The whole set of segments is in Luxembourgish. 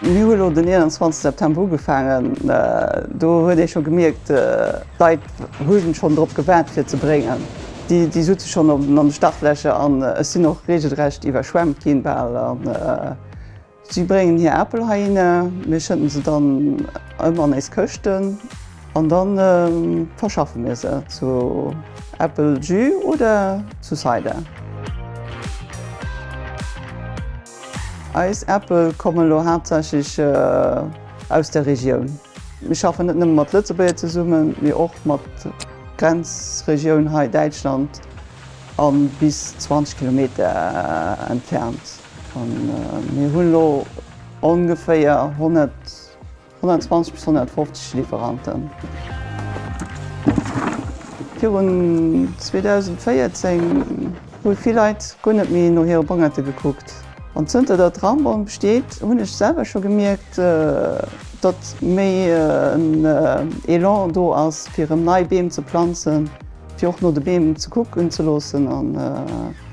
Mir hu elo den 21 September ugefaangen. Do huet ee scho gemierkt, d'Leit hu schonn drop gewaart fir ze bréngen. Déi sutze schonn an de Startlächer an ech sinn och reegelrecht iwwerschwemmt ginn bal. Si bréngen hir Apel heihinner, mir schëdden se dann ëm an éis Këschten an dann verschaffe mir se zu Äppeljus oder zu Cider. Eis Äppel komme lo haaptsächlech aus der Regioun. Mir schaffen net nëmme mat Lëtzebuerger zesummen, mee och mat Grenzregioun hei, Däitschland, a bis 20 Kilometer entfernt. Mir hunn elo ongeféier 120 bis 150 Liwweranten. Virun 2014 hu vill Leit guer net méi no hire Bongerte gekuckt. An zënter datt Rambonne besteet, hunn ech selwer scho gemierkt, datt méi en Elan do ass, fir erëm nei Beem ze planzen. Fir och no de Beem ze kucken ze loossen an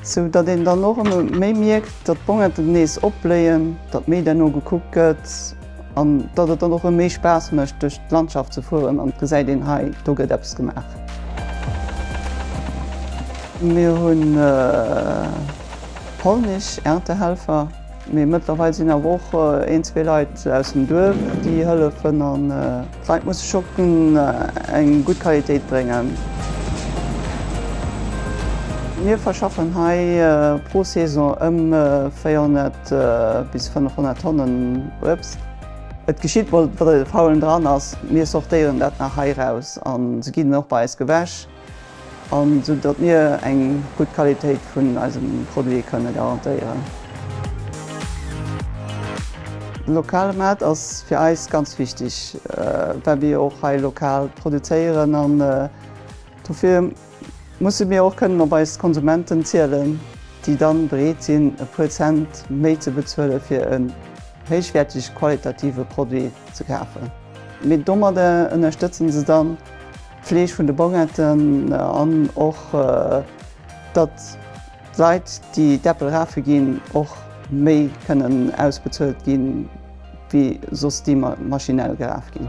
sou datt een dann och ëmmer méi mierkt, datt d'Bongette nees opbléien, datt méi derno gekuckt gëtt an datt et dann och rëm méi Spaass mécht duerch d'Landschaft ze fueren an et gesäit een, hei do gëtt eppes gemaach. Mir hu polnesch Erntehelfer, mee mëttlerweil sinn awer och een, zwee Leit aus dem Duerf déi hëllefen. D'Leit musse shoppen, eng gutt Qualitéit bréngen. Mir verschaffen hei pro Saison ëm 400 bis 500 Tonnen Uebst. Et geschitt mol, datt e faulen dran ass. Mir sortéieren dat nach hei raus a se ginn dann och bei eis gewäsch. an sou datt mir eng gutt Qualitéit vun eisem Produit kënne garantéieren. De lokale Maart ass fir eis ganz wichteg, well mir jo och hei lokal produzéieren an dofir musse mir och kënnen op eis Konsumenten zielen, déi dann bereet sinn e puer Cent méi ze bezuele fir en héichwäertege qualitative Produit ze kafen. Mee domadder ënnerstëtzen se dann D'Fleeg vun de Bongetten an och datt d'Leit déi d'Äppel rafe ginn och méi kënnen ausbezuelt ginn wéi soss déi maschinell geraf ginn.